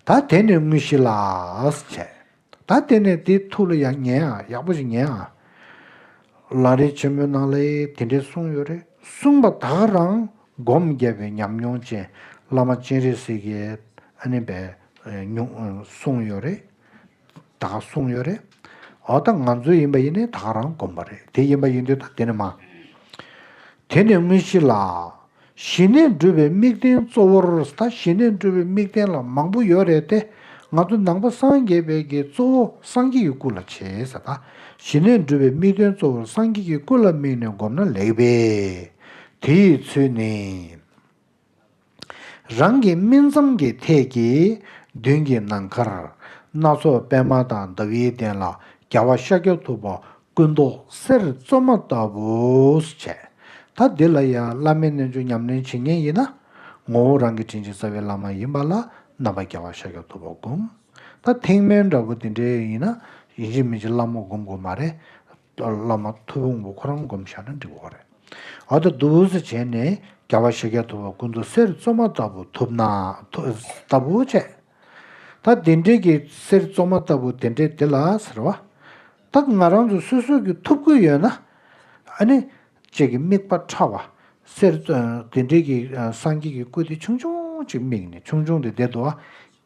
ད་དེ་ནས་དངོས་གཞི་ལགས། བྱས། ད་དེ་ནས་དེའི་ཐུགས་ལ་ཡང་ཉན་ཨ་ཡག་པོ་ཞིག་ཉན་ཨ། ལ་རས་ཆེན་མོའི་ནང་ལས་དེ་འདྲས་གསུངས་ཡོད་རེད་གསུངས་པ་དག་རང་སྒོམ་རྒྱབ་པའི་ཉམས་མྱོང་ཅན་བླ་མ་སྤྱན་རས་གཟིགས་ཀྱིས་ཨ་ནི་བས་གསུངས་ཡོད་རེད། དང་གསུངས་ཡོད་རེད། འོ་ད་ང་ཚོའི་ཡིན་པ་ཡིན་ནི་དག་རང་དགོན་པ་རེད་དེ་ཡིན་པ་ཡིན་དུས་ད་དེ་ནི་མ། དེ་ནི་དངོས་གཞི་ལ། ཞི་གནས་འགྲུབ་པའི་དམིགས་རྟེན་གཙོ་བོར་ད་ཞི་གནས་འགྲུབ་པའི་དམིགས་རྟེན་ལ་མང་པོ་ཡོད་རེད་དེ། ང་ཚོ་ནང་པ་སངས་རྒྱས་པའི་གི་གཙོ་བོ་སངས་རྒྱས་ཀྱི་སྐུ་ལ་བྱེད་ས་ད་ཞི་གནས་འགྲུབ་པའི་དམིགས་རྟེན་གཙོ་བོར་སངས་རྒྱས་ཀྱི་སྐུ་ལ་དམིགས་ནས་བསྒོམ་ན་ལེགས་པས། དེ་ཡི་ཚུལ་ནི། རང་གི་སྨིན་མཚམས་ཀྱི་ཐད་ཀྱི་མདུན་གྱི་ནམ་མཁར། སྣ་ཚོགས་པདྨ་དང་ཟླ་བའི་གདན་ལ་རྒྱལ་བ་ཤཱཀྱ་ཐུབ་པ་སྐུ་མདོག་གསེར་བཙོ་མ་ལྟ་བུས་བྱས། ད་འདི་ལ་ཡང་བླ་མའི་རྣལ་འབྱོར་ཉམས་ལེན་བྱེད་ངེས་ཡིན་ན། ངོ་བོ་རང་གི་དྲིན་ཅན་རྩ་བའི་བླ་མ་ཡིན་པ་ལ་རྣམ་པར་རྒྱལ་བ་ཤཱཀྱ་ཐུབ་པ་བསྒོམ། ད་ཐེག་དམན་འདྲ་བོ་དེ་འདྲའི་ཡིན་ན། ཡིན་གཅིག་མིན་གཅིག་བླ་མ་བསྒོམ་དགོས་མ་རེད། བླ་མ་ཐུ་བོང་བུ་ཁོ་རང་བསྒོམ་བཞག་ན་འགྲིག་བ་རེད། འོ་ད་བསྡུ་བཟོ་བྱས་ནས་རྒྱ་བ་ཤཱཀྱ་ཐུབ་པ་ཀུན་ཏུ་གསེར་བཙོ་མ་ལྟ་བུ་ཐུབ་ན། ལྟ་བུ་བྱས། ད་དེ་འདྲས་ཀྱི་གསེར་བཙོ་མ་ལྟ་བུ་དེ་འདྲས་དེ་ལ་ཟེར་བ། ད་ང་རང་ཚོ་སོ་སོ་གྱི་ཐུབ་ཀུན་ཡོད་ན། ཨ་ནི། ཅེས་ཀྱི་དམིགས་པ་ཕྲ་བ། གསེར་དེ་འདྲས་ཀྱི་སངས་རྒྱས་ཀྱི་སྐུ་དེ་ཆུང་ཆུང་ཅིག་དམིགས་ནས་ཆུང་ཆུང་དེ་དེ་དུ་བ།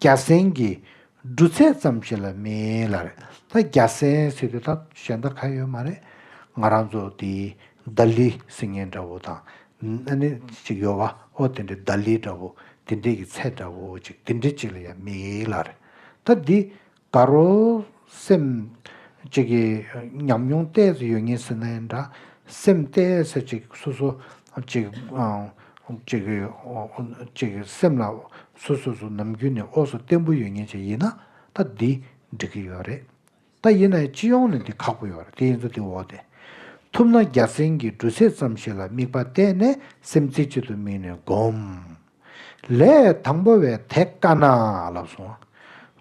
རྒྱ་སེང་གི། འབྲུ་ཚད་ཙམ་ཞིག་ལ་མིན་ལ་རེད་ད་རྒྱ་སེ་ཟེར་དུས་ད་གཞན་ད་ག་ཡོད་མ་རེད་ང་རང་ཚོ་དེ་རྡ་ལི་སིང་ངེ་འདྲ་བོ་དང་ཨ་ནེ་ཅིག་ཡོད་བ་ཨོ་དེ་འདྲའི་རྡ་ལི་འདྲ་བོ་དེ་འདྲའི་གི་ཚད་འདྲ་བོ་ཅིག་དེ་འདྲའི་ཅིག་ལ་ཡང་མིན་ལ་རེད་ད་འདི་ག་རོ་སེམས་ཅིག་གི་ཉམས་མྱོང་གཏད་ཟེར་ཡོད་ངེས་ཟེར་ན་ཡང་འདྲ་སེམས་གཏད་ཟེར་ཅིག་སོ་སོ་ཅིག་གཅིག་གཅིག་སེམས་ལ་སོ་སོ་སོ་ནམ་རྒྱུན་ནས་ཨོ་སོ་བརྟན་པོ་ཡོད་ཉེན་ཅིག་ཡིན་ན་ད་འདི་འགྲིག་གི་ཡོད་རེད་ད་ཡིན་ན་ཡང་སྤྱི་ཡོངས་ནས་འདི་ཁག་པོ་ཡོད་རེད་དེ་ཡིན་ཚོ་དེ་འོག་དེ་ཐུབ་ན་རྒྱ་སེང་གི་འབྲུ་ཚད་ཙམ་ཞིག་ལ་དམིགས་པ་གཏད་ནས་སེམས་རྩེ་གཅིག་ཏུ་དམིགས་ནས་སྒོམས། ལས་དང་པོ་བས་དེ་དཀའ་ན་ལབ་སོང།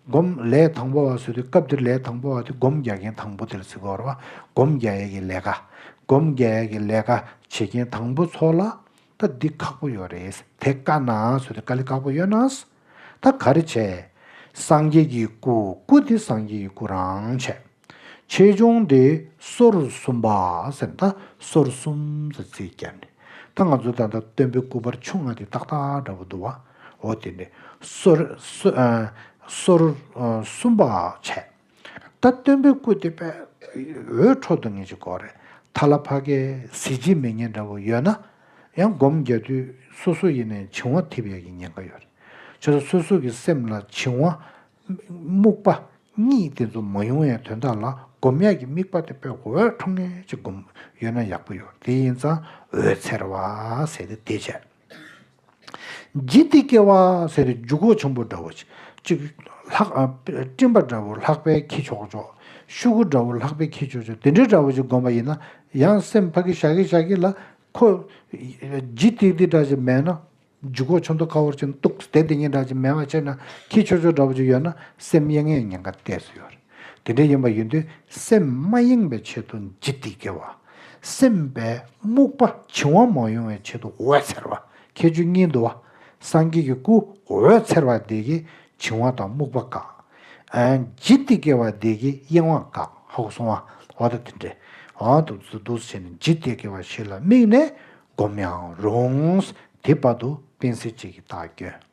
སྒོམ་ལས་དང་པོ་བ་བཟོས་ཏེ་སྐབས་འདིར་ལས་དང་པོ་བ་དེ་སྒོམ་རྒྱག་མཁན་དང་པོ་དེར་བརྩི་བར་བ་སྒོམ་རྒྱག་ཡས་ཀྱི་ལས་ཀ། སྒོམ་རྒྱག་ཡས་ཀྱི་ལས་ཀ་བྱེད་མཁན་དང་པོ་ཚོ་ལ། ད་འདི་ཁག་པོ་ཡོད་རེད། དེ་དཀའ་ན་བཟོས་ཏེ་དཀའ་ལས་ཁག་པོ་ཡོད་ན། ད་ག་རེ་བྱས། སངས་རྒྱས་ཀྱི་སྐུ་སྐུ་དེ་སངས་རྒྱས་ཀྱི་སྐུ་རང་བྱས། ཆེ་ཆུང་དེ་སོར་གསུམ་པ། སོར་གསུམ་ཟེར་ཚེ་བསྐྱར་ནས་ད་ང་ཚོ་ད་ལྟ་སྟོན་པའི་སྐུ་པར་ཆུང་ང་དེ་ཏག་ཏག་འདྲ་པོ་འདུག་བའོ་དེ་ནི་སོར་སོར་གསུམ་པ་བྱས། ད་སྟོན་པའི་སྐུ་དེ་པས་འོད་འཕྲོ་འདུག་ངེད་ཅིག་གོ་རེད་ཐ་ལ་ཕ་གའི་གཟི་བརྗིད་མི་ངན་འདྲ་པོ་ཡོད་ན་ཡང་སྒོམ་རྒྱག་དུས་སོ་སོ་ཡེ་ནས་བྱིང་བ་འཐིབ་ཡག་གི་ཉེན་ཁ་ཡོད་རེད། ཆོས་ས་སོ་སོ་གི་སེམས་ལ་བྱིང་བ་རྨུགས་པ་གཉིས་དེ་ཚོ་མ་ཡོང་ཡའི་དོན་དག་ལ་སྒོམ་ཡས་ཀྱི་དམིགས་པ་དེ་པོས་འོད་འཕྲོ་ངེས་ཅིག་སྒོམ་ཡོད་ན་ཡག་པོ་ཡོད་དེ་ཡིན་ཙང་འོད་འཚེར་བ་ཟེར་ཏེ་དེ་བྱས། ལྗིད་ལྟིག་སྐྱེ་བ་ཟེར་ཏེ་འཇུག་སྒོ་ཆེན་པོ་འདྲ་བོ་ཅིག། སྤྲིན་པ་འདྲ་བོ་ལྷག་པའི་ཁྱི་ཆོག་ཆོག། ཤུ་གུ་འདྲ་བོ་ལྷག་པའི་ཁྱི་ཆོག་ཆོག་དེ་འདྲའི་འདྲ་བོ་ཅིག་སྒོམ་པ་ཡིན་ན་ཡང་སེམས་ཕ་གི་ཞག་གི་ཞག་གི་ལ་ཁོ། ལྗིད་ལྟིག་ལྟིག་འདྲ་ཅིག་མེད་ན། འཇུག་གོ་ཆོ་འདོ་ཁ་བོར་ཅིང་སྟུག་སྡེ་འདི་གཉིས་འདྲ་ཅིང་མེད་པར་ཆད་ན་ཁྱི་ཆོས་ཆོས་འདྲ་པོ་ཅིག་ཡོད་ན་སེམས་གཡེང་ངེས་ཉེན་ཁ་གཏད་སུ་ཡོད། དེ་འདྲའི་ཡིན་པ་ཡིན་དུས་སེམས་མ་གཡེང་བའི་ཆེད་དུ་ལྗིད་ཏིག་སྐྱེ་བ། སེམས་པའི་རྨུགས་པ་བྱིང་བ་མ་ཡོང་བའི་ཆེད་དུ་འོད་འཚེར་བ་ཁྱད་ཆོས་གཉིས་འདུ་བ། སངས་རྒྱས་ཀྱི་སྐུ་འོད་འཚེར་བ་འདི་ཀྱིས་བྱིང་བ་དང་རྨུགས་པ་བཀག། ལྗིད་ཏིག་སྐྱེ་བ་འདི་ཀྱིས་གཡེང་བ་བཀག་ཧཱུྃ་སྲུང་བ་འོ་ད་དེ་འདྲའི་འོ་ད་འདུག་འདུག་བྱས་ནས་ལྗིད་ཏིག་སྐྱེ་བ་ཞིག་ལ་དམིགས་ནས་བསྒོམ་ཡང་རུང། དེའི་བར་དུ་སྤེན་ཚེ་གཅིག་གིས་བདག་སྐྱོན།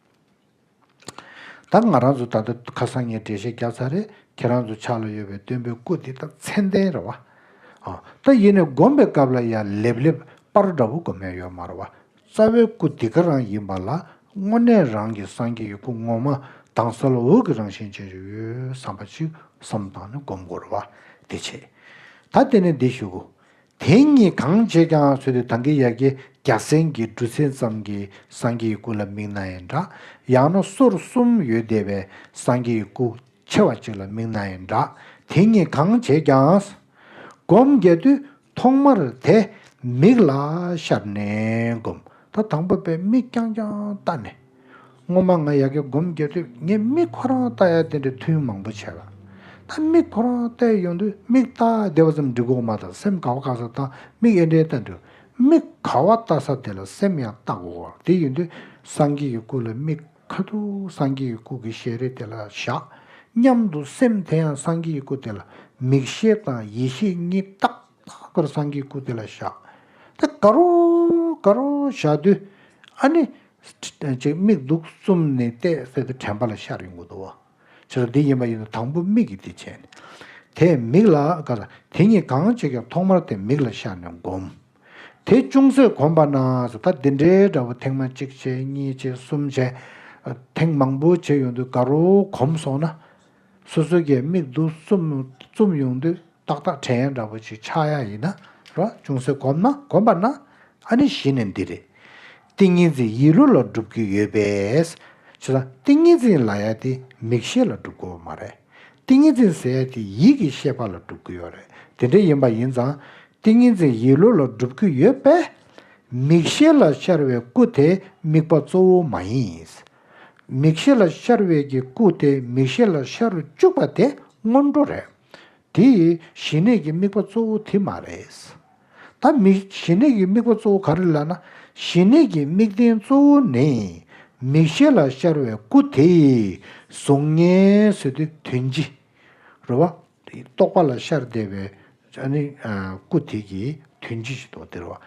ད་ང་རང་ཚོ་ད་ལྟ་ཁ་སང་ངས་འགྲེལ་བཤད་བརྒྱབ་ཚར་རེད་ཁྱེད་རང་ཚོ་ཕྱག་ལ་ཡོད་པའི་སྟོན་པའི་སྐུ་དེ་ད་མཚན་ལྡན་རེད་བ། ད་ཡིན་ནས་བསྒོམ་པའི་སྐབས་ལ་ཡང་ལེབ་ལེབ་པར་འདྲ་བོ་བསྒོམ་ཡ་ཡོད་མ་རེད་བ། རྩ་བའི་སྐུ་འདི་ག་རང་ཡིན་པ་ལ་དངོས་གནས་རང་གི་སངས་རྒྱས་ཀྱི་སྐུ་ངོ་མ་དྭངས་གསལ་འོད་ཀྱི་རང་བཞིན་ཅན་ཞིག་ཡོད་བསམ་པ་ཅིག་བསམ་བཏང་ནས་བསྒོམ་དགོས་རེད་བ། དེ་བྱས། ད་དེ་ནས་འདི་ཞུ། དེ་གཉིས་གང་བྱེད་ཀྱང་བཟོད་དེ་དང་གི་ཡ་གི་རྒྱ་སེན་གྱི་སྦྲུལ་མཚན་ཙམ་གྱི་སངས་རྒྱས་ཀྱི་སྐུ་ལ་མིག་ན་ཡི་འདྲ། ཡང་ན་སོར་གསུམ་ཡོད་བདེ་བའི་སངས་རྒྱས་ཀྱི་སྐུ་ཆེ་བ་གཅིག་ལ་མིག་ན་ཡི་འདྲ། དེ་གཉིས་གང་བྱེད་ཀྱང། སྒོམ་རྒྱ་དུས་ཐོག་མར་དེ་མིག་ལ་ཤར་ནས་བསྒོམ། ད་དང་པོ་པས་མིག་རྐྱང་རྐྱང་བལྟ་ནས། སྔོན་མ་ང་ཡ་གེ་སྒོམ་རྒྱབ་དུས་ངས་དམིགས་ཁོ་རང་བལྟ་ཡ་དེ་འདྲའི་ཐུན་མང་པོ་བྱས་ལ། ད་དམིགས་ཁོ་རང་བལྟས་ཡོང་དུས་དམིགས་བལྟ་བདེ་བ་ཙམ་འབྲི་གོག་མ་དང་སེམས་ག་བ་ག་ས་དང་དམིགས་ཨེ་འདྲའི་བལྟ་འདུག་དམིགས་ག་བ་བལྟ་ས་དེ་ལ་སེམས་ཡང་བལྟ་གོ་གོ་དེ་ཡོང་དུས་སངས་རྒྱས་ཀྱི་སྐུ་ལ་དམིགས་ཁ་ཐུག་སངས་རྒྱས་ཀྱི་སྐུ་གི་ཞལ་རས་དེ་ལ་བཞག་སྙམ་དུ་སེམས་དེ་ཡང་སངས་རྒྱས་ཀྱི་སྐུ་དེ་ལ་མིག་ཤེས་དང་ཡིད་ཤེས་གཉིས་ཏག་ཏག་པར་སངས་རྒྱས་ཀྱི་སྐུ་དེ་ལ་བཞག་དེ་ག་རོ་ག་རོ་བཞག་དུས་ཨ་ནི་ཅིག་དམིགས་འདུག་གསུམ་ནི་གཏད་སོ་དེ་དྲན་པ་ལ་ཤར་ཡོང་གི་འདུག་བ། ཕྱི་རོལ་འདི་ཡིན་པ་ཡིན་ནོ་དང་པོ་མིག་གིས་དེ་བྱས་ནས། དེས་མིག་ལ་དགའ་ལ། དེ་གཉིས་གང་བྱེད་ཀྱང་ཐོག་མར་དེ་མིག་ལ་ཤར་ནས་བསྒོམ། དེ་ཅུང་ཟད་གོམས་པ་ན་ད་འདི་འདྲའི་འདྲ་བོ་ཐེངས་མ་གཅིག་བྱས་གཉིས་བྱས་གསུམ་བྱས། ཐེངས་མང་པོ་བྱས་ཡོང་དུས་དགའ་རོགས་གོམས་སོང་ན། སོ་སོའི་གད་མིག་དུ་བཙུམ་ཡོང་དུས་ཏག་ཏག་བྲན་ཡ་འདྲ་བོ་ཞིག་ཆགས་ཡ་ཡིན་ན་ར་ཅུང་ཟད་གོམས་ན་གོམས་པ་ན་ཨ་ནི་གཞི་ནས་འདི་རེད། ཏིང་ངེ་འཛིན་ཡིད་བློ་ལ་སྒྲུབ་རྒྱུ་ཡོད་པས། ཆུ་དང་ཏིང་ངེ་འཛིན་ལ་ཡ་དེ་མིག་ཤེས་ལ་སྒྲུབ་དགོས་པ་མ་རེད། ཏིང་ངེ་འཛིན་ཟེར་ཡ་དེ་ཡིད་ཀྱི་ཤེས་པ་ལ་སྒྲུབ་གི་ཡོད་རེད་དེ་འདྲ་ཡིན་པ་ཡིན་ཙང་ཏིང་ངེ་འཛིན་ཡིད་བློ་ལ་སྒྲུབ་གི་ཡོད་པས། མིག་ཤེས་ལ་ཤར་བའི་སྐུ་དེ་དམིགས་པ་གཙོ་བོ་མ་ཡིན། མིག་ཤེས་ལ་ཤར་བས་ཀྱི་སྐུ་དེ་མིག་ཤེས་ལ་ཤར་རུ་བཅུག་པ་དེ་སྔོན་འགྲོ་རེད། དེ་ཡི་ཞི་གནས་ཀྱི་དམིགས་པ་གཙོ་བོ་དེ་མ་རེད། ད་མིག་ཞི་གནས་ཀྱི་དམིགས་པ་གཙོ་བོ་ག་རེ་ལགས་ན། ཞི་གནས་ཀྱི་དམིགས་རྟེན་གཙོ་བོ་ནི་མིག་ཤེས་ལ་ཤར་བའི་སྐུ་དེ་ཡིས་གཟུགས་བརྙན་བཟོས་ཏེ་དོན་ཅི། རེད་བ། རྟོག་པ་ལ་ཤར་བསྡད་པའི་སྐུ་དེ་ཀྱིས་དོན་ཅི་ཞིག་རྟོགས་ཏེ་རེད་བ།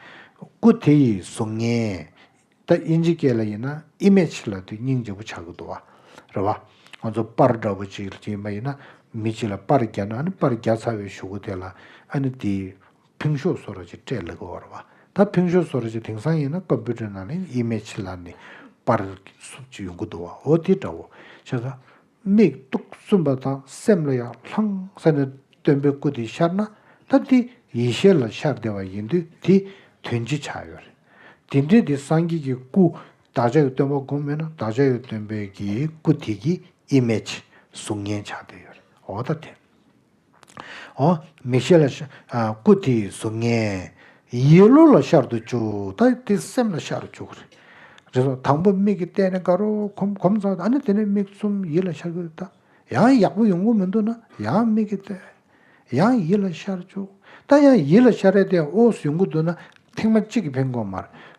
སྐུ་དེ་ཡིས་གཟུགས་བརྙན། ད་དབྱིན་ཇི་སྐད་ལ་ཡིན་ན image ལ་དུས་སྙིང་རྗེ་པོ་བྱ་གི་འདུག་བ་རེད་བ། ང་ཚོ་དཔར་འདྲ་པོ་ཅིག་གྱིས་མ་ཡིན་ན་མི་གཅིག་ལ་དཔར་རྒྱག་ན་ཨ་ནི་དཔར་རྒྱག་ཚར་བའི་ཞུ་གུ་དེ་ལ་ཨ་ནི་དེས་ཕིང་ཤོ་བཟོ་རོ་ཅིག་སྤྲད་ལེ་གི་བ་རེད་བ། ད་ཕིང་ཤོ་བཟོ་རོ་ཅིག་དེང་སང་ཡིན་ན་ཀོམ་པུའུ་ཏར་ནང་ལ image ལ་ནི་དཔར་གི་སུབ་ཅིག་ཡོང་གི་འདུག་བ་འོ་དེ་འདྲ་བོ་ཆགས་ཀ། མིག་སྟོང་གསུམ་པ་དང་སེམས་ལ་ཡང་ལྷང་ས་ནས་སྟོན་པའི་སྐུ་དེ་ཤར་ན་ཐབས་དེ་ཡེ་ཤེས་ལ་ཤར་བདེ་བ་ཡིན་དུས་དེ་དོན་ཅི་ཆགས་ཡོད་རེད། དེ་འདྲའི་དེ་སངས་རྒྱས་ཀྱི་སྐུ་བདག་ཅག་གི་སྟོན་པ་སྒོམ་མེད་ན་བདག་ཅག་གི་སྟོན་པའི་གི་སྐུ་དེ་གི image གཟུགས་བརྙན་ཆགས་བསྡད་ཡོད་རེད་འོ་ད་དེ། ཨོ། མིག་ཤེས་ལ། སྐུ་དེའི་གཟུགས་བརྙན། ཡིད་བློ་ལ་ཤར་དུ་བཅུག་ད་དེ་སེམས་ལ་ཤར་བཅུག་གོ། རེད་དོ། དང་པོ་མིག་གི་སྟེང་ནས་དགའ་རོགས་གོམས་གོམས་ཚར་ཨ་ནི་དེ་ནས་མིག་བཙུམ་ཡིད་ལ་ཤར་བཅུག་ད། ཡང་ཡག་པོ་ཡོང་གི་མི་འདུག་ན་ཡང་མིག་གི་སྟེང། ཡང་ཡིད་ལ་ཤར་བཅུག་ད་ཡང་ཡིད་ལ་ཤར་རེད་དེ་ཨོ་ཟེར་ཡོང་གི་འདུག་ན་ཐེངས་མ་གཅིག་གི་ཕན་གོ་མ་རེད།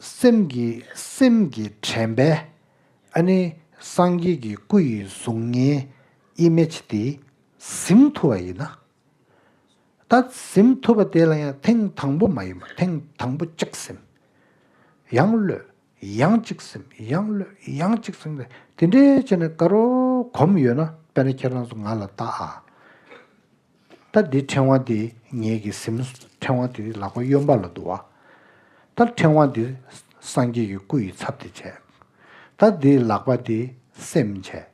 སེམས་ཀྱི་དྲན་པས་ཨ་ནི་སངས་རྒྱས་ཀྱི་སྐུ་ཡི་གཟུགས་བརྙན image དེ་གཟིམས་ཐུབ་པ་ཡིན་ན། ད་གཟིམས་ཐུབ་པ་དེ་ལ་ཡང་ཐེངས་དང་པོ་མ་ཡིན་པར་ཐེངས་དང་པོ་གཅིག་གཟིམས། ཡང་གློད། ཡང་གཅིག་གཟིམས། ཡང་གློད། ཡང་གཅིག་གཟིམས། དེ་འདྲའི་བྱས་ནས་དགའ་རོགས་གོམས་ཡོད་ན་དཔེར་ན་ཁྱེད་རང་ཚོ་ང་ལ་བལྟ་ཨ། ལྟར་འདིའི་ཕྲེང་བ་འདི་ངེད་ཀྱི་གཟིམ། ཕྲེང་བ་འདི་ལག་པ་གཡོན་པ་ལ་འདུ་བ། ལྟར་ཕྲེང་བ་འདི་སངས་རྒྱས་ཀྱི་སྐུ་ཡི་ཚབ་དེ་བྱས། ལྟར་འདིའི་ལག་པ་འདི་སེམས་བྱས།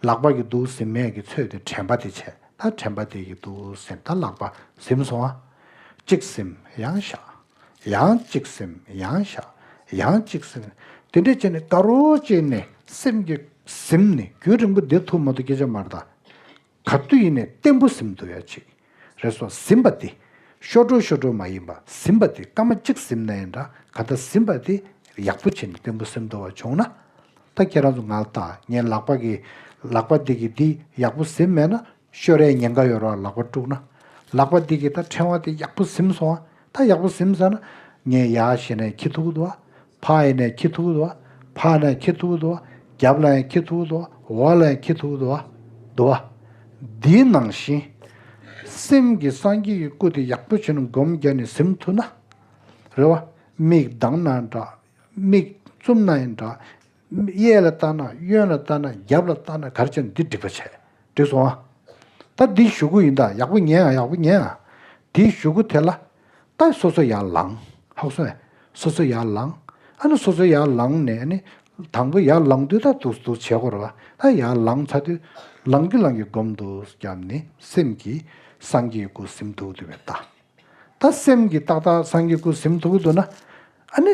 ལག་པ་གི་འདུ་བཟིམ་མས་ཀྱི་ཚོས་འདི་དྲན་པ་དེ་བྱས། ལྟར་དྲན་པ་འདི་ཀྱི་འདུ་བཟིམ་ལྟར་ལག་པ་བཟིམ་སོང་ཨ། གཅིག་བཟིམ་ཡང་བཞག། ཡང་གཅིག་བཟིམ་ཡང་བཞག། ཡང་གཅིག་བཟིམ། དེ་འདྲས་བྱས་ནས་ད་རོ་བཅས་ནས་སེམས་ཀྱི་གཟིམ་ནི་རྒྱུན་རིང་པོ་འདིར་ཐུག་མ་ཐུག་སྐད་ཆ་མར་བརྡ། ག་དུས་ཡིན་ནས་བརྟན་པོ་ཟིམ་དུ་ཡ་ཆེད་རེད་སོགས་ཟིམ་པ་དེ་ཤོར་འགྲོ་ཤོར་འགྲོ་མ་ཡིན་པ་ཟིམ་པ་དེ་སྐར་མ་གཅིག་ཟིམ་ན་ཡང་འདྲ་ག་ལྟ་ཟིམ་པ་དེ་ཡག་པོ་བྱས་ནས་བརྟན་པོ་ཟིམ་དུ་བ་བྱུང་ན་ད་ཁྱེད་རང་ཚོ་ང་ལ་བལྟ་ངའི་ལག་པ་གི་ལག་པ་འདི་གི་འདི་ཡག་པོ་ཟིམ་མེད་ན་ཤོར་རའི་ཉེན་ཁ་ཡོད་རོགས་ལག་པ་དཀྲུགས་ན་ལག་པ་འདི་གི་ད་ཕྲེང་བ་དེ་ཡག་པོ་ཟིམ་སོང་ཨ། ད་ཡག་པོ་ཟིམ་ས་ན། ངས་ཡ་ཞེས་ནས་ཁྱི་ཐུག་དུ་བ། ཕ་ཡེ་ནས་ཁྱི་ཐུག་དུ་བ། ཕ་ནས་ཁྱི་ཐུག་དུ་བ། རྒྱབ་ལ་ཡང་ཁྱི་ཐུག་དུ་བ། འོག་ལ་ཡང་ཁྱི་ཐུག་དུ་བ། དུ་བ། འདིའི་ནང་བཞིན། སེམས་ཀྱི་སངས་རྒྱས་ཀྱི་སྐུ་དེ་ཡག་པོ་བྱས་ནས་སྒོམ་རྒྱ་ནས་ཟིམ་ཐུག་ན། རེ་བ། མིག་གདངས་ན་འདྲ། མིག་བཙུམ་ན་ཡང་འདྲ། གཡས་ལ་ལྟ་ན་གཡོན་ལ་ལྟ་ན་རྒྱབ་ལ་ལྟ་ན་གར་ཅིག་འདི་འགྲིག་པ་བྱས་འགྲིག་སོང་ཨ། ད་འདི་བཞུགས་སྒོ་ཡིན་ད་ཡག་པོ་ཉན་ཨ་ཡག་པོ་ཉན་ཨ། འདི་བཞུགས་སྒོ་དེ་ལ་ལྟ་སོ་སོ་ཡར་ལངས་ཧཱུྃ་སོ་ཨ། སོ་སོ་ཡར་ལངས་ཨ་ནི་སོ་སོ་ཡར་ལངས་ནས་ནི། དང་པོ་ཡར་ལངས་དུས་ད་དུ་དུ་བྱས་སྐོར་བ་ཨ་ཡར་ལངས་ཚར་དུས། ལངས་ཀྱི་ལངས་ཀྱི་བསྒོམ་དུ་བརྒྱབ་ནི་སེམས་ཀྱི་སངས་རྒྱས་སྐུ་གཟིམ་ཐུགས་དུ་བའི་ལྟ། ད་སེམས་ཀྱི་ཏག་ཏག་སངས་རྒྱས་སྐུ་གཟིམ་ཐུགས་དུ་ན་ཨ་ནི།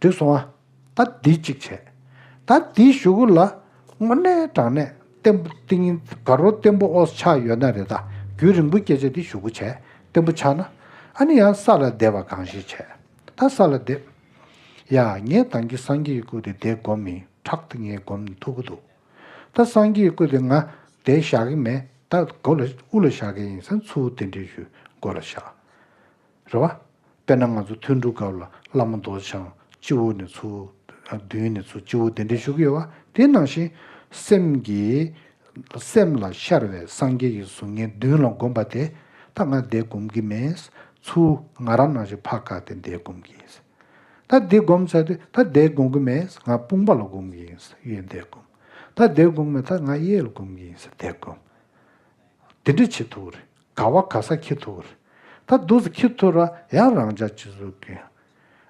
འདུས་སོང་བ། ད་འདི་གཅིག་བྱས། ད་འདི་བཞུགས་གོ་ལ། སྔོ་ནའི་དྲང་ནས་བརྟན་པོ་ཏིང་ངེ་དགའ་རོ་བརྟན་པོ་ཨོ་ཆགས་ཡོད་ན་རེ་ད་རྒྱུན་རིང་པོ་སྐྱེ་བྱ་འདི་བཞུགས་གོ་བྱས་བརྟན་པོ་ཆགས་ན། ཨ་ནི་ཡང་ས་ལ་བདེ་བ་གང་ཞིག་བྱས། ད་ས་ལ་བདེ། ཡ། ངས་དང་གི་སངས་རྒྱས་ཀྱི་སྐུ་དེ་དེ་བསྒོམ་མིན་ཁྲག་དེ་ངས་བསྒོམ་ནས་ཐུག་གི་འདུག། ད་སངས་རྒྱས་ཀྱི་སྐུ་དེ་ང་དེ་བཞག་གི་མེད་ད་སྒོ་ལ་དབུ་ལ་བཞག་གི་ཡིན་ས་མཚུའུ་དེ་འདྲའི་ཞུ་སྒོ་ལ་བཞག། རེད་བ། དཔེར་ན་ང་ཚོ་ཐུན་འགྲུལ་སྐབས་ལ་བླ་མ་མདོ་བྱང་སྤྱི་བོ་ནས་ཚུར་བདུན་ནས་ཚུར་སྤྱི་བོ་གདན་འདྲེན་ཞུ་གི་ཡོད་བ་དེ་ནང་བཞིན། སེམས་ཀྱི། སེམས་ལ་ཤར་བའི་སངས་རྒྱས་ཀྱི་གཟུགས་བརྙན་བདུན་ལ་བསྒོམ་པ་དེ་ད་ང་འདས་བསྒོམ་གི་མེད། ཚུར་ང་རང་ནང་བཞིན་ཕག་བཀག་སྟེ་འདས་བསྒོམ་གི་ཡིན། ད་འདི་བསྒོམ་ཚར་དུས་ད་འདས་བསྒོམ་གི་མེད་ང་དཔུང་པ་ལ་བསྒོམ་གི་ཡིན་གཡས་འདས་བསྒོམ། ད་འདས་བསྒོམ་གི་མེད་ད་ང་གཡས་ལ་བསྒོམ་གི་ཡིན་འདས་བསྒོམ། དེ་འདྲ་བྱེད་ཐུབ་ཀྱི་རེད། ག་བ་ག་ས་ཁྱི་ཐུ་ར། ད་འདུག་ཟེ་ཁྱི་ཐུ་ར་ཡང་རང་ཅག་ཅི་བཟོ་གི།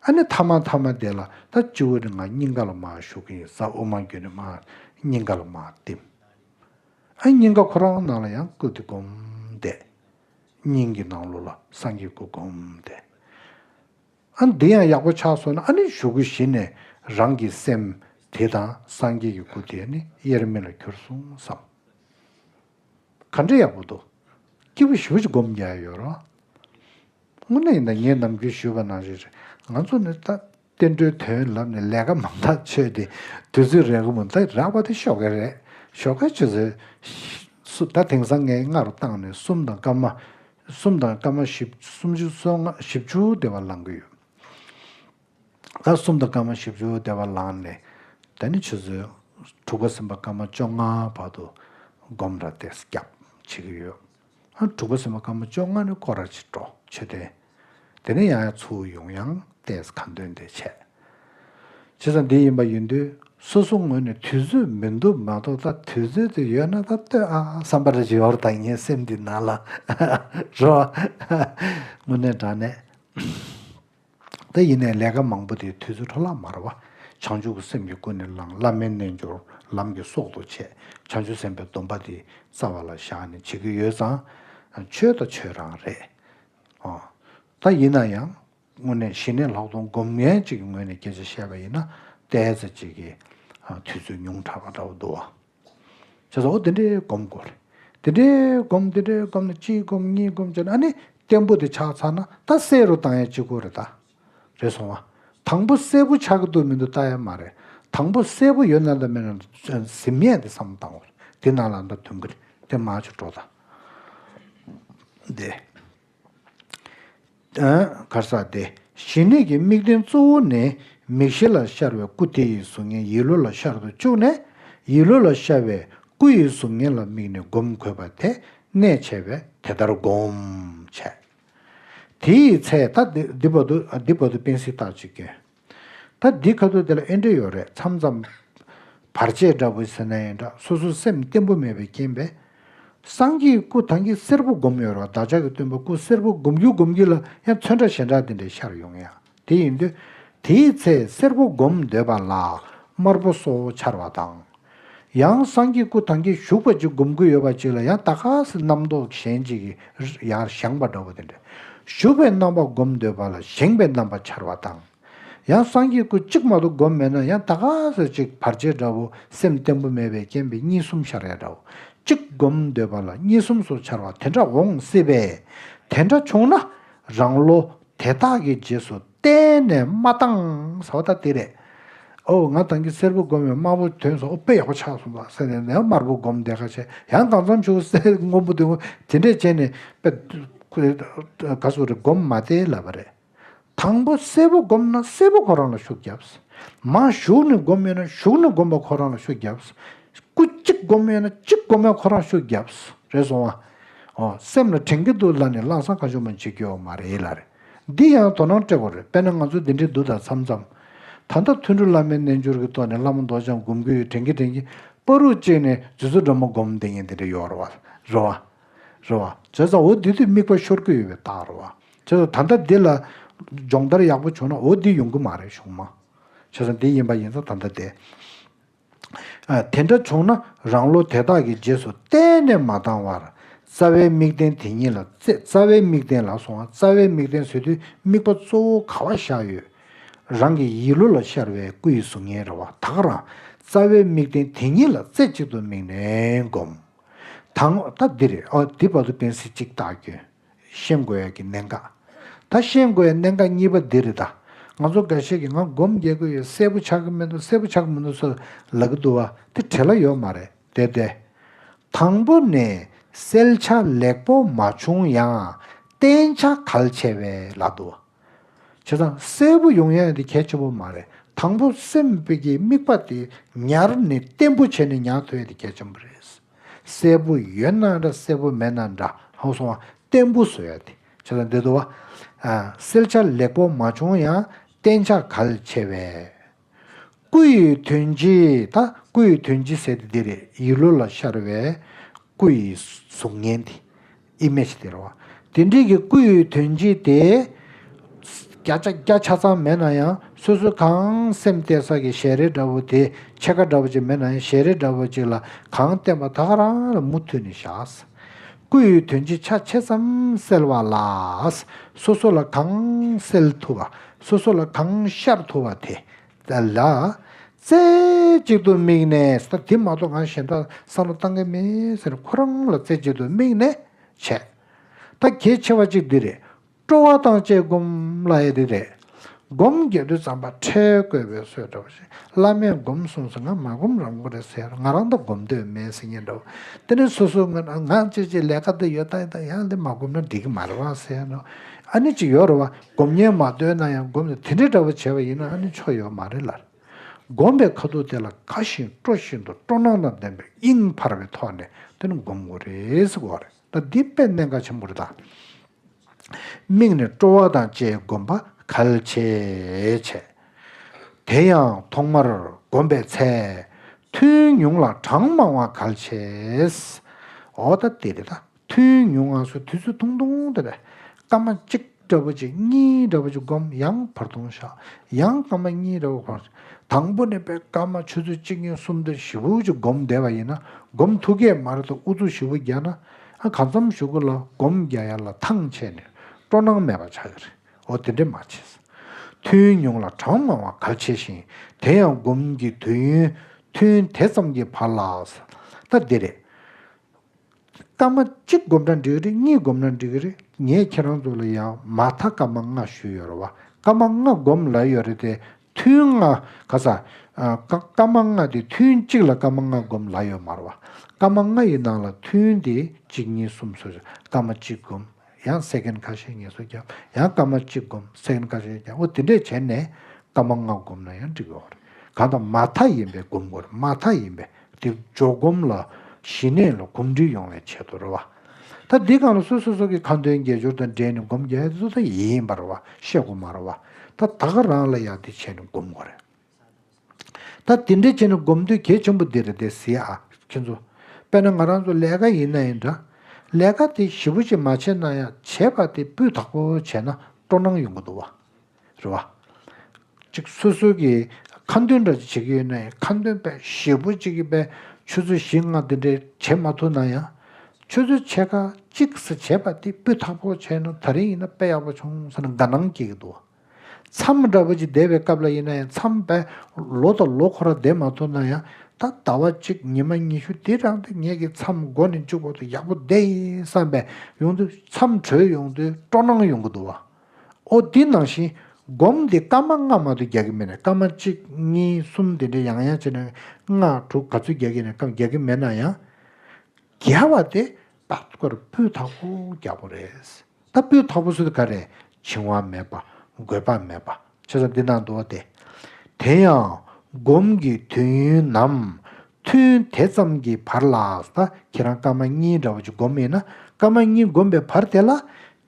ཨ་ནི་ཐ་མ་ཐ་མ་བསྡད་ལ་ད་སྤྱི་བོ་ནི་ང་སྙིང་ག་ལ་མ་ཞུ་གི་ཡིན་ས་དབུ་མ་འགྱོད་ནི་མ་སྙིང་ག་ལ་མ་བསྟིམ། ཨ་སྙིང་ག་ཁོ་རང་ནང་ལ་ཡང་སྐུ་དེ་སྒོམ་བསྡད། སྙིང་གི་ནང་ལོག་ལ་སངས་རྒྱས་སྐུ་སྒོམ་བསྡད། ཨ་འདི་ཡང་ཡག་པོ་ཆགས་སོང་ན་ཨ་ནི་ཞུ་གི་གཞི་ནས་རང་གི་སེམས་དེ་དང་སངས་རྒྱས་ཀྱི་སྐུ་དེ་ནི་དབྱེར་མེད་ལ་གྱུར་སོང་བསམ། ག་འདྲ་ཡག་པོ་འདུག། སྐྱིད་པོ་ཞུ་ཅི་སྒོམ་རྒྱག་ཡོད་རོགས། དངོས་གནས་ཡིན་ན་ངས་ནམ་རྒྱུན་ཞུས་པ་ན་རེད་རེད། ང་ཚོ་ནི་ད་བསྟན་འགྲོའི་དོན་ལབ་ནས་ལས་ཀ་མང་ཐག་ཆོད་དེ་དུས་ཚོད་རེག་མུ་འདི་རག་པ་དེ་ཤོག་དགའི་རེད་ཤོག་དགའ་བྱེད་ཚོད། ད་དེང་སང་ངས་ལྔ་རུ་བཏང་ནས་གསུམ་དང་སྐར་མ། གསུམ་དང་སྐར་མ་བཞི་སུམ་ཅུ་སོ་ལྔ་བཞི་བཅུ་དེ་བ་ལང་གི་ཡོད། ཟླ་གསུམ་དང་སྐར་མ་བཞི་བཅུ་བདེ་བར་ལངས་ནས་ད་ནི་ཆུ་ཚོད་དྲུག་ག་ཟིན་པ་སྐར་མ་བཅོ་ལྔ་བར་དུ་སྒོམ་ར་སྟེ་སྐྱབས་བྱེད་ཀྱི་ཡོད། ཨ་དྲུག་ག་ཟིན་པ་སྐར་མ་བཅོ་ལྔ་ནི་བསྐོར་ར་བྱེད་འགྲོ་ཆོས་ལྡན། དེ་ནས་ཡང་ཡང་ཚུར་ཡོང་ཡང་ལྟས་ཀ་འདོན་ཏེ་བྱས། བྱས་ཙང་འདི་ཡིན་པ་ཡིན་དུས་སོ་སོ་ངོས་ནས་དུས་ཚོད་མི་འདུག་མ་གཏོགས་ད་དུས་ཚོད་དེ་ཡོད་ན་ད་ལྟོས་ཨ་བསམ་པར་རྗེ་ཧོར་ད་ངའི་སེམས་འདི་ན་ལ་རོ། དངོས་གནས་དྲང་གནས། དེ་ཡིན་ནས་ལས་ཀ་མང་པོ་དེ་དུས་ཚོད་འཕྲོ་བརླག་མ་ར་བ། བྱང་ཆུབ་ཀྱི་སེམས་ཀྱིས་ཀུན་ནས་བསླང་བླ་མའི་རྣལ་འབྱོར་ལམ་གྱི་སྲོག་ཏུ་བྱས། བྱང་ཆུབ་སེམས་དཔའི་སྡོམ་པ་དེ་རྩ་བ་ལ་བཞག་ནས་བྱེད་ཀྱི་ཡོད་ཙང། ཆོས་དང་ཆོས་རང་རེད། ད་ཡིན་ན་ཡང་དངོས་གནས་ཞི་གནས་ལྷག་མཐོང་སྒོམ་མཁན་གཅིག་གི་ངོས་ནས་སྐད་ཆ་བཤད་པ་ཡིན་ན། བལྟས་ཚེ་གཅིག་གིས་དུས་ཚོད་ཉུང་དྲགས་པ་འདྲ་བོ་འདུག་བ། ཞེས་སོགས་འདི་འདྲའི་སྒོམ་དགོས་རེད། འདི་འདྲའི་སྒོམ་འདི་འདྲའི་སྒོམ་ནི་གཅིག་སྒོམ་གཉིས་སྒོམ་བྱས་ན་ཨ་ནི་བརྟན་པོ་དེ་ཆགས་ཚར་ན་ད་གསལ་རུ་བཏང་ཡས་གཅིག་པོ་རེད་ད། རེད་སོང་བ། དང་པོ་གསལ་པོ་ཆགས་ཀྱི་འདུག་མི་འདུག་ལྟ་ཡས་མ་རེད། དང་པོ་གསལ་པོ་ཡོད་ན་ལ་མེད་ན་གཟིམ་ཡས་དེ་བསམ་བཏང་བ་རེད་དེ་ནང་ལ་ད་དུང་གི་རེད་དེ་མ་ཆུ་འགྲོ་ད། དེ། གར་ཟག་སྟེ། ཞི་གནས་ཀྱི་དམིགས་རྟེན་གཙོ་བོ་ནི་མིག་བཞི་ལ་ཤར་བའི་སྐུ་དེ་ཡི་གཟུགས་བརྙན་ཡིད་བློ་ལ་ཤར་དུ་བཅུག་ནས། ཡིད་བློ་ལ་ཤར་བའི་སྐུ་ཡི་གཟུགས་བརྙན་ལ་དམིགས་ནས་བསྒོམ་དགོས་པ་དེ་གནད་ཆེ་བས་དེ་ལྟར་བསྒོམ། བྱས། དེ་ཡི་ཚེ་ད་འདི་བར་དུ་བསྟན་སྲིད་རྟག་ཅིག་སྐྱོན། ད་འདི་ཁ་ཐུག་དེ་ལ་ཨེ་འབྲེལ་ཡོད་རེད་མཚམས་མཚམས། བར་ཆད་འདྲ་བོ་ཟེར་ན་ཡིན་འདྲ་སོ་སོ་སེམས་བརྟན་པོ་མེད་པའི་རྐྱེན་པས། སངས་རྒྱས་སྐུ་ཐང་གི་སེར་པོ་བསྒོམ་ཡོད་རོགས་བདག་ཅག་གི་སྟོན་པ་སྐུ་སེར་པོ་བསྒོམ་རྒྱུ་བསྒོམ་རྒྱུ་ལ་ཡང་མཚོན་འདྲ་ཞེན་འདྲ་དེ་འདྲས་ཤར་ཡོང་ཡ་དེ་ཡིན་དུས། དེའི་ཚེ་སེར་པོ་བསྒོམ་འདོད་པ་ལ་དམར་པོ་སོགས་འཆར་བ་དང། ཡང་སངས་རྒྱས་སྐུ་ཐང་གིས་བཞུགས་པ་ཅིག་སྒོམ་ཀུན་ཡོད་པ་ཅིག་ལ་ཡང་ད་ག་ཟེ་རྣམ་རྟོག་གཞན་ཅིག་གིས་ཡར་བཞེངས་པ་འདྲ་བོ་དེ་འདྲ། བཞུགས་པའི་རྣམ་པ་སྒོམ་འདོད་པ་ལ་བཞེངས་པའི་རྣམ་པ་འཆར་བ་དང། ཡང་སངས་རྒྱས་སྐུ་གཅིག་མ་གཏོགས་སྒོམ་མེད་ན་ཡང་ད་ག་ཟེ་ཅིག་བར་ཆད་འདྲ་བོ་སེམས་བརྟན་པོ་མེད་པའི་རྐྱེན་པས་གཉིས་གསུམ་ཤར་ཡ་འདྲ་བོ་གཅིག་སྒོམ་འདོད་པ་ལ་གཉིས་གསུམ་སོགས་འཆར་བ་དེ་འདྲ་འོང་སྲིད་པས། དེ་འདྲ་བྱུང་ན་རང་བློ་དེ་དག་གི་རྗེས་སུ། གཏན་ནས་མ་བཏང་ཟོ་ད་དེ་རེད། ཨོ་ང་བཏང་གི་སེར་པོ་བསྒོམས་ཡོད་དམར་པོ་དོན་སོགས་དཔེ་ཡག་པོ་ཆགས་སོང་ཟེར་ནས་ནས་དམར་པོ་བསྒོམས་བསྡད་ཁ་ཆེ་ཡང་གང་ཙམ་ཆུ་སེར་སྔོན་པོ་དེ་འདྲས་བྱས་ནས་དཔེ་ག་སོགས་རེ་བསྒོམས་མ་བསྡད་ལབ་པ་རེད། དང་པོ་སེར་པོ་བསྒོམས་ན་སེར་པོ་ཁོ་རང་ལ་ཤུགས་རྒྱབས། མ་ཞུགས་ནས་བསྒོམས་ཡོད་ན་ཞུགས་ནས་བསྒོམས་པ་ཁོ་རང་ལ་ཤུགས་རྒྱབས། སྐུ་གཅིག་བསྒོམས་ཡོད་ན་གཅིག་བསྒོམས་པ་ཁོ་རང་ཤུགས་རྒྱབས། རེད་སོང་ཨ། ཨོ་སེམས་ལ་དྲན་གྱི་འདུག་ལ་ནས་བླངས་སམ་གང་ཆུང་མ་འཇིགས་ཀྱི་ཡོད་མ་རེད་ལ་རེད། འདི་ཡང་དོ་སྣང་སྤྲད་པ་རེད་དཔེར་ན་ང་ཚོ་འདི་འདྲའི་འདུག་ད་མཚམས་མཚམས། ད་ལྟ་ཐུན་གྲུ་བླ་མའི་རྣལ་འབྱོར་གྱི་ཏོག་ནས་ལྷ་མོ་མདོག་ལྗང་སྒོམ་གྱི་ཡོད་དྲན་གྱི་དྲན་གྱི། པ་རུ་བཅིངས་ནས་རྫུན་བཟོ་སྒྲོན་མ་སྒོམ་བདེ་ཉེན་འདི་འདྲ་ཡོད་རོ་བ། རོ་བ། རོ་བ། བྱས་ཙང་འོ་འདི་དུས་དམིགས་པ་ཤོར་གྱི་ཡོད་པའི་རྟགས་རོ་བ། བྱས་ཙང་ད་ལྟ་འདི་ལ། སྦྱོང་བརྡར་ཡག་པོ་བྱུང་ན་འོ་འདི་ཡོང་གི་མ་རེད་བྱུང་མ། བྱས་ཙང་འདི་ཡིན་པ་ཡིན་ཙང་ད་ལྟ་འདི། དེ་འདྲ་བྱུང་ན་རང་བློ་དེ་དག་གི་རྗེས་སུ་གཏན་ནས་མ་བཏང་བར། རྩ་བའི་དམིགས་རྟེན་དེ་ཉིད་ལ་རྩེ་རྩ་བའི་དམིགས་རྟེན་ལ་སོང་བ་རྩ་བའི་དམིགས་རྟེན་བཟོས་དུས་དམིགས་པ་གཙོ་བོ་ག་བ་བཞག་ཡོད། རང་གི་ཡིད་བློ་ལ་ཤར་བའི་སྐུ་ཡི་གཟུགས་བརྙན་རེ་བ་དག་རང་རྩ་བའི་དམིགས་རྟེན་དེ་ཉིད་ལ་རྩེ་གཅིག་ཏུ་དམིགས་ནས་བསྒོམ། ད་ངོ་ད་འདི་རེད་ཨོ་འདི་བ་ཏུ་བསྟན་སྲིད་གཅིག་བརྟགས་སྐྱོན། ཤེས་དགོས་ཀྱི་གནད་འགག་དང་ཤེས་དགོས་ཀྱི་གནད་འགག་གཉིས་པ་འདི་རེད་ད། ང་ཚོ་འགའ་ཤས་ཀྱིས་ང་སྒོམ་རྒྱག་གི་ཡོད་གསལ་པོ་ཆགས་ཀྱི་མི་འདུག་གསལ་པོ་ཆགས་ཀྱི་མི་འདུག་སོགས་ལབ་ཀྱི་འདུག་བ་དེ་བྲེལ་ལ་ཡོད་མ་རེད་དེ་བདེ། དང་པོ་ནས་གསལ་ཆ་ལེགས་པོ་མ་བྱུང་ཡང་བསྟན་བྱ་གལ་ཆེ་བས་ལ་འདུག་བ། བྱས་ཙང་གསལ་པོ་ཡོང་ཡ་དེ་གལ་ཆེན་པོ་མ་རེད་དང་པོ་སེམས་དཔའི་གི་དམིགས་པ་དེ་ཉར་ནས་བརྟན་པོ་བྱས་ནས་ཉར་ཐུབ་ཡ་དེ་གལ་ཆེན་པོ་རེད། གསལ་པོ་ཡོད་ན་འདྲ་གསལ་པོ་མེད་ན་འདྲ་ཧང་སོང་བ་བརྟན་པོ་བཟོ་ཡ་དེ་བྱས་ཙང་འདི་དུ་བ། སེལ་བྱ་ལེགས་པོ་མ་བྱུང་ཡང་བརྟན་བྱ་གལ་ཆེ་བས། སྐུ་ཡི་དོན་སྤྱི་ད་སྐུ་ཡི་དོན་སྤྱི་ཟེར་ཏེ་འདི་རེད་ཡིད་བློ་ལ་ཤར་བའི་སྐུ་ཡི་གཟུགས་བརྙན་དེ། Image། དེ་རེད་བ། དེ་འབྲེལ་གྱི་སྐུ་ཡི་དོན་སྤྱི་དེ་བརྒྱ་ཆ་ཚང་མེད་ན་ཡང་སོ་སོའི་གང་སེམས་གཏད་ས་ཀྱི་ཞལ་རས་འདྲ་བོ་དེ་ཕྱེད་ཀ་འདྲ་བོ་ཅིག་མེད་ན་ཡང་ཞལ་རས་འདྲ་བོ་ཅིག་ལ་གང་བསྟན་པ་དག་རང་རང་ལ་མུ་མཐུད་ནས་བཞག། སྐུ་ཡི་དོན་སྤྱི་ཆ་ཕྱེད་ཙམ་གསལ་བ་ལ། སོ་སོ་ལ་གང་གསལ་ཐུབ་པ་སོ་སོ་ལ་གང་ཤར་ཐུབ་པ་དེ་གསལ་ལ། རྩེ་གཅིག་ཏུ་དམིགས་ནས་དེ་མ་གཏོགས་གང་གཞན་དག་བསམ་བློ་གཏང་གི་མེད་ཟེར་ཁོ་རང་ལ་རྩེ་གཅིག་ཏུ་དམིགས་ནས་བྱས། ད་གལ་ཆེ་བ་གཅིག་འདི་རེད། སྤྲོ་བ་དང་བཅས་བསྒོམ་ལ་ཨེ་རེ་རེ། སྒོམ་རྒྱལ་དུས་ཙམ་པ་ཁྲལ་བཀོད་པའི་སྲོལ་འདྲ་བ་ཞིག་བླ་མས་སྒོམ་གསུངས་སོང་ང་མ་སྒོམ་རང་སྒོམ་རེད་ཟེར་ང་རང་ད་སྒོམ་འདོད་མེད་ཟེར་ཉན་འདྲ་བོ། དེ་ནས་སོ་སོ་ངོས་ནས་ང་ཅེ་ཅེ་ལས་ཀ་འདི་ཡོད་ད་ཡིན་ད་ཡང་འདི་མ་སྒོམ་ན་འགྲིག་གི་མ་རེད་བ་ཟེར་ནོ། ཨ་ནི་ཅིག་ཡོད་རེད་བ་སྒོམ་ཉན་མ་འདོད་ན་ཡང་སྒོམ་ནི་དེ་འདྲའི་འདྲ་བོ་བྱས་པ་ཡིན་ན་ཨ་ནི་ཆོ་ཡོད་མ་རེད་ལར། སྒོམ་པའི་ཁ་ཐུག་དེ་ལ་དགའ་བཞིན་སྤྲོ་བཞིན་དུ་སྤྲོ་སྣང་དང་ལྡན་པའི་དབྱིངས་འཕར་བའི་ཐོག་ནས་དེ་ནི་སྒོམ་དགོས་རེད་ཟེར་གོ་རེད། སྟབས་བདེའི་དཔེ་གནད་འགག་ཆེན་པོར་དང། མིག་ནི་སྤྲོ་བ་དང་བཅས་བསྒོམ་པ་གལ་ཆེ། བྱས། དེ་ཡང་ཐོག་མར་བསྒོམ་པའི་ཚད། ཐུན་ཉུང་ལ་གྲངས་མང་བ་གལ་ཆེ། འོ་ད་དེ་རེད་ད། ཐུན་ཉུང་ང་སོ་དུས་ཚོད་ཐུང་ཐུང་དེ་བས་སྐར་མ་གཅིག། སྐྲ་བོ་གཅིག་གཉིས་རེ་བ་ཅིག་བསྒོམ་ཡང་བར་སྟོང་བཞག་ཡང་སྐར་མ་གཉིས་རེ་བ་བར། དང་པོ་ནས་པས་སྐར་མ་ཆུ་ཚོད་གཅིག་གཉིས་གསུམ་དང་བཞི་བོ་ཅིག་བསྒོམ་བདེ་བ་ཡིན་ན་བསྒོམ་ཐུགས་ཀའི་མར་དང་དབུ་གཙུག་བཞི་བོ་བརྒྱ་ན། གང་འཚམ་བཞུགས་ལ་བསྒོམ་བརྒྱ་ཡར་ལ་ཐང་ཆད་ནས་སྤྲོ་སྣང་མེད་པར་བྱ་ཡི་རེད་འོ་དེ་འདྲས་མ་བྱས། ཐུན་ཉུང་ལ་གྲངས་མང་བ་གལ་ཆེ་ཞིང་དེ་ཡང་བསྒོམ་གྱི་དུས་ཡུན་ཐུན་དེ་ཙམ་གྱི་བར་ལ། ད་འདི་རེད། སྐར་མ་གཅིག་བསྒོམ་ན་འགྲིག་རེད་གཉིས་བསྒོམ་ན་འགྲིག་རེད་ངས་ཁྱེད་རང་ཚོ་ལ་ཡང་མ་མཐའ་སྐར་མ་ལྔ་ཞུས་ཡོད་རེད་བ་སྐར་མ་ལྔ་བསྒོམ་ལ་ཡོད་རེད་དེ་ཐུན་ལྔ་ག་ས་སྐར་མ་ལྔ་དེ་ཐུན་གཅིག་ལ་སྐར་མ་ལྔ་བསྒོམ་ལ་ཡོད་མ་རེད་བ་སྐར་མ་ལྔ་ཡི་ནང་ལ་ཐུན་དེ་གཅིག་གཉིས་གསུམ་སོ་སོའི་སྐར་མ་གཅིག་བསྒོམ་ཡང་སེ་གན་ཁ་ཤས་ངལ་གསོ་བརྒྱབ་ཡང་སྐར་མ་གཅིག་བསྒོམ་སེ་གན་ཁ་ཤས་བརྒྱབ་འོ་དེ་འདྲས་བྱས་ནས་སྐར་མ་ལྔ་བསྒོམ་ན་ཡང་འགྲིག་གི་རེད་གང་ལྟར་མ་མཐའ་ཡིན་པའི་བསྒོམ་དགོས་རེད་མ་མཐའ་ཡིན་པའི་དེ་འཇོག་བསྒོམ་ལ་ཞི་གནས་ལ་གོམས་འདྲིས་ཡོང་བའི་ཆེད་དུ་རེད་བ། ད་འདི་གང་ལ་སོ་སོ་སོ་གི་ཁ་འདོན་རྒྱལ་སྦྱོར་དང་འབྲེལ་ནས་བསྒོམ་རྒྱལ་ཡོད་ས་ཡིན་པ་རེད་བ་ཤེས་དགོས་མ་རེད་བ། ད་ད་ག་རང་ལ་ཡག་འདི་བྱས་ནས་བསྒོམ་དགོས་རེད། ད་དེ་འདྲའི་བྱས་ན་སྒོམ་དུས་གལ་ཆེན་པོ་འདི་རེད་དེ་ཟེར་ཨ་ཁྱེད་ཚོ། དཔེར་ན་ང་རང་ཚོ་ལས་ཀ་ཡིན་ན་ཡིན་འདྲ། ལས་ཀ་དེ་ཞིབ་པོ་ཞིག་མ་བྱས་ན་ཡང་བྱས་པ་དེ་སྤུས་དག་པོ་བྱས་ན་སྤྲོ་སྣང་ཡོང་གི་འདུག་བ། རེད་བ། ཅིག་སོ་སོའི་གི་ཁ་འདོན་འདྲ་ཅིག་བྱེད་ཀྱི་ཡོད་ན་ཡང་ཁ་འདོན་དཔེ་ཞིབ་པོ་ཅིག་གི་པའི་ཆུ་ཚོད་བཞི་ལྔ་དེ་འདྲའི་བྱེད་མ་ཐུབ་ན་ཡང། ཆུ་ཚོད་ཕྱེད་ཀ་གཅིག་སུ་བྱས་པ་དེ་སྤུས་དག་པོ་བྱས་ན་ད་རིང་ཡིན་ན་དཔེ་ཡག་པོ་བྱུང་ཟེར་ན་དགའ་སྣང་སྐྱེ་གི་འདུག་བ། མཚམས་འདྲ་བོ་ཅིག་འདས་པའི་སྐབས་ལ་ཡིན་ན་ཡང་མཚམས་པས་ལོ་དང་ལོ་འཁོར་ར་འདས་མ་ཐུབ་ན་ཡང་ད་ཟླ་བ་གཅིག་ཉི་མ་ཉི་ཤུ་འདི་རང་དུ་ངེད་ཀྱི་མཚམས་མགོ་ནས་མཇུག་བར་དུ་ཡག་པོ་བསྡད་ཡིན་བསམ་པས་ཡོང་དུས་མཚམས་གྲོལ་ཡོང་དུས་སྤྲོ་སྣང་ཡོང་གི་འདུག་བ། ཨོ་འདི་ནང་བཞིན་སྒོམ་འདི་སྐར་མ་ལྔ་མ་དུ་རྒྱག་གི་མེད་ནས་སྐར་མ་གཅིག་གཉིས་གསུམ་དེ་འདྲའི་ཡང་ཡང་བྱས་ན་ལྔ་དྲུག་ག་ཚོད་རྒྱག་གི་ནས་སྐབས་རྒྱག་གི་མེད་ན་ཡང། བརྒྱ་བ་དེ་ལྟག་ཏུ་ཀར་སྤུས་དག་པོ་རྒྱག་པོ་རེད། ལྟ་བུའི་ཐོག་པོ་སུལ་ཀ་རེ་འཆིང་བ་མེད་པ་དགོས་པ་མེད་པ་ཆོས་ཟབ་འདི་ནང་དུ་བསྟན། དེ་ཡང་སྒོམ་གྱི་དུས་ཡུན་ནམ་ཐུན་དེ་ཙམ་གྱི་བར་ལགས་ད་ཁྱེད་རང་སྐར་མ་གཉིས་འདྲ་བོ་ཅིག་སྒོམ་མེད་ན་སྐར་མ་གཉིས་བསྒོམས་པའི་བར་དེ་ལ་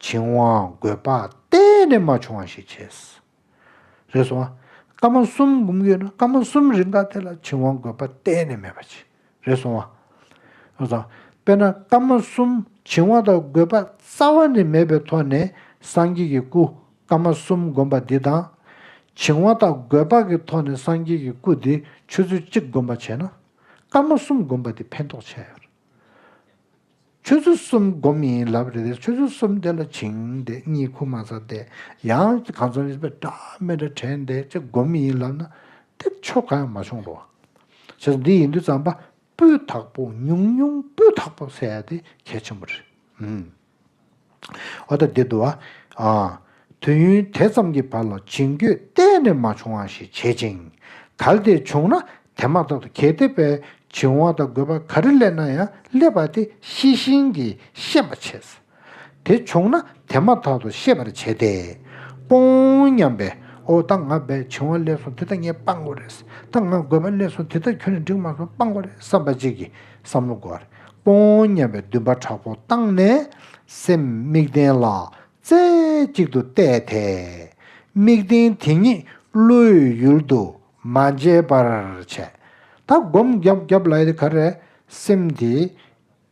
འཆིང་བ་དགོས་པ་གཏན་ནས་མ་བྱུང་བ་ཞིག་བྱས། རེ་ཟུང། སྐར་མ་གསུམ་འབུམ་ཡོད་ན་སྐར་མ་གསུམ་རིམ་ཁག་དེ་ལ་བྱིང་བ་འགོད་པ་གཏན་ནས་མེད་པ་ཅི་རེ་ཟུང་བ། ཡོང་ཙང། དཔེར་ན་སྐར་མ་གསུམ་བྱིང་བ་དང་འགོད་པ་རྩ་བ་ནས་མེད་པའི་ཐོག་ནས་སངས་རྒྱས་ཀྱི་སྐུ་སྐར་མ་གསུམ་བསྒོམ་པ་འདི་དང། བྱིང་བ་དང་འགོད་པ་གི་ཐོག་ནས་སངས་རྒྱས་ཀྱི་སྐུ་འདི་ཆུ་ཚོད་གཅིག་བསྒོམ་པ་བྱས་ན། སྐར་མ་གསུམ་བསྒོམ་པ་འདི་ཕན་ཐོགས་ཆེ། ཆོས་ཚུལ་གསུམ་སྒོམ་ཡིན་ལབ་རེད་དེ་ཆོས་ཚུལ་གསུམ་དེ་ལ་བྱིངས་དེ་གཉིས་ཁུག་མ་ཟ་དེ་ཡང་གང་ཚོང་ཡིན་པའི་སྒྲ་སྨན་སྒྲ་དྲན་དེ་ཅི་སྒོམ་ཡིན་ལབ་ན་དེ་ཆོས་གང་ཡང་མ་བྱུང་རོ། བྱས་ཙང་འདི་ཡིན་དུས་ཙམ་པ་པོའི་དག་པོ་ཉུང་ཉུང་པོའི་དག་པོ་བསལ་དེ་གལ་ཆེན་པོ་རེད། ཨོ་ད་དེ་འདུག་ཨ། དུས་ཡུན་དེ་ཙམ་གྱི་བར་ལ་བྱིངས་རྒྱུད་གཏན་ནས་མ་བྱུང་བ་ཞིག་བྱེད་ཅིང། ད་དེ་བྱུང་ན་དེ་མ་ཐག་ཏུ་གལ་ཏེ་པའི་བྱིངས་བ་དང་དགོས་པ་ག་རེ་སླེབས་ན་ཡང་སླེབས་པ་དེ་ཤེས་བཞིན་གྱིས་ཤེས་པར་བྱེད། དེ་བྱུང་ན་དེ་མ་ཐག་ཏུ་ཤེས་པར་བྱེད་དེ། སྤོང་སྙམ་པས་ཨོ་ད་ང་པའི་བྱིངས་བ་སླེབས་སོང་དེ་ད་ངས་སྤང་དགོས་རེད། ད་ང་དགོས་པ་སླེབས་སོང་དེ་ད་ཁྱོད་ལ་འགྲིག་མ་སོང་སྤང་དགོས་རེད་བསམ་པ་གཅིག་གིས། བསམ་བློ་སྒོར་སྤོང་སྙམ་པའི་འདུན་པ་དྲག་པོ་བཏང་ནས་སེམས་དམིགས་རྟེན་ལ་རྩེ་གཅིག་ཏུ་གཏད་དེ། དམིགས་རྟེན་དེ་ཉིད་བློའི་ཡུལ་དུ་མ་འཇལ་བར་བྱས། ད་སྒོམ་རྒྱབ་རྒྱབ་ལ་ཨེ་ག་རེ། སེམས་དེ་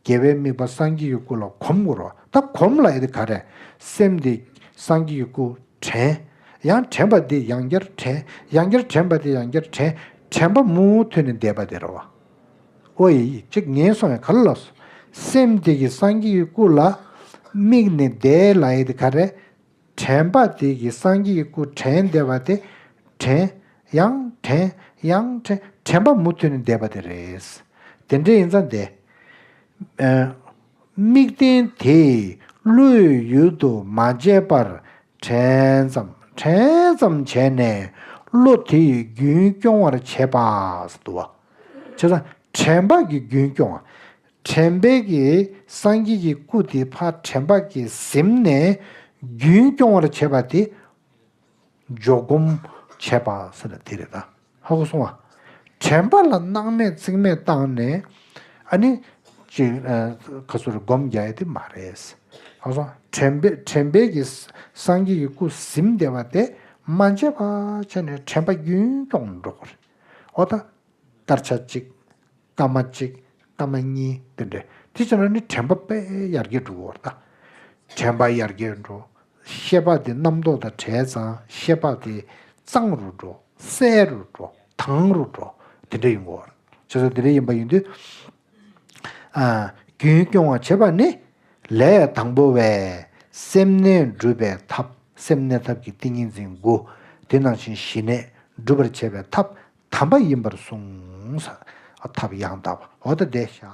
རྒྱལ་བའི་དམིགས་པ་སངས་རྒྱས་ཀྱི་སྐུ་ལ་གོམས་དགོས་རོ། ད་གོམས་ལ་ཨེ་ག་རེ། སེམས་དེ་སངས་རྒྱས་ཀྱི་སྐུ་དྲན། ཡང་དྲན་པ་དེ་ཡང་བསྐྱར་དྲན། ཡང་བསྐྱར་དྲན་པ་དེ་ཡང་བསྐྱར་དྲན། དྲན་པ་མུ་མཐུད་ནས་འདས་པ་དེར་བ། ཨོ་ཡིག་གཅིག་ངན་སོང་བའི་ག་ལ་ལོག་སོ། སེམས་དེ་ཀྱི་སངས་རྒྱས་ཀྱི་སྐུ་ལ་དམིགས་ནས་བཟླས་ལ་ཡི་དེ་ག་རེ། དྲན་པ་དེ་ཀྱི་སངས་རྒྱས་ཀྱི་སྐུ་དྲན་བཟླས་པ་དེ། དྲན། ཡང་དྲན། ཡང་དྲན། དྲན་པ་མུ་མཐུད་ནས་བཟླས་པ་དེ་རེད། དེ་འདྲས་ཡིན་ཙང་བཟླས། དམིགས་རྟེན་དེས་བློའི་ཡུལ་དུ་མ་བྱས་པར་དྲན་ཙམ་དྲན་ཙམ་བྱས་ནས་བློ་དེ་ཡི་རྒྱུན་སྐྱོང་བར་བྱེད་པ། བྱས་ཙང་དྲན་བག་གི་རྒྱུན་སྐྱོང་བ། དྲན་བག་གིས་སངས་རྒྱས་ཀྱི་སྐུ་དེ་ཕ་དྲན་བག་གིས་གཟིམས་ནས་རྒྱུན་སྐྱོང་བར་བྱེད་པ་དེ། འཇོག་སྒོམ་བྱས་པ་ཟེར་ན་དེ་རེད་ད། ཧ་གོ་སོང་ཨ། དྲན་པ་ལ་སྣང་མེད་རྩིག་མེད་བཏང་ནས་ཨ་ནི། ཅིག་ཁ་སོར་སྒོམ་རྒྱག་ཡ་དེ་མ་རེད། ཨ་སོང་དྲན་པས་དྲན་པས་ཀྱི་སངས་རྒྱས་ཀྱི་སྐུ་གཟིམས་བདེ་བ་དེ་མ་འབྱེད་པ་བྱས་ནས་དྲན་པ་རྒྱུན་སྐྱོང་འགྲོ་དགོས་རེད། ཨོ་ད། ལྟར་བྱ་ཅིག། སྐར་མ་གཅིག། སྐར་མ་གཉིས་བསྟན་ཏེ། དེ་ཕྱིར་ན་ནི་དྲན་པ་དཔལ་ཡར་རྒྱས་འགྲོ་བའོ། དྲན་པ་ཡར་རྒྱས་འགྲོ། ཤེས་པ་དེ་རྣམ་རྟོག་དང་བྲལ་ཙང་ཤེས་པ་དེ་གཙང་རུ་འགྲོ། གསལ་རུ་འགྲོ། དྭངས་རུ་འགྲོ། དེ་འདྲ་ཡིན་གོ། ཞེས་སོགས་དེ་འདྲ་ཡིན་པ་ཡིན་དུས། རྒྱུན་སྐྱོང་བར་བྱེད་པ་ནི། ལས་དང་པོ་བས། སེམས་གནས་སྒྲུབ་པའི་ཐབས་སེམས་གནས་ཐབས་ཀྱི་ཏིང་ངེ་འཛིན་དགུ། དེ་ནང་བཞིན་ཞི་གནས་སྒྲུབ་པར་བྱེད་པའི་ཐབས་དམ་པ་ཡིན་པར་གསུངས། ཐབས་ཡང་དག་པ་འོ་ད་བཟླས་བྱ།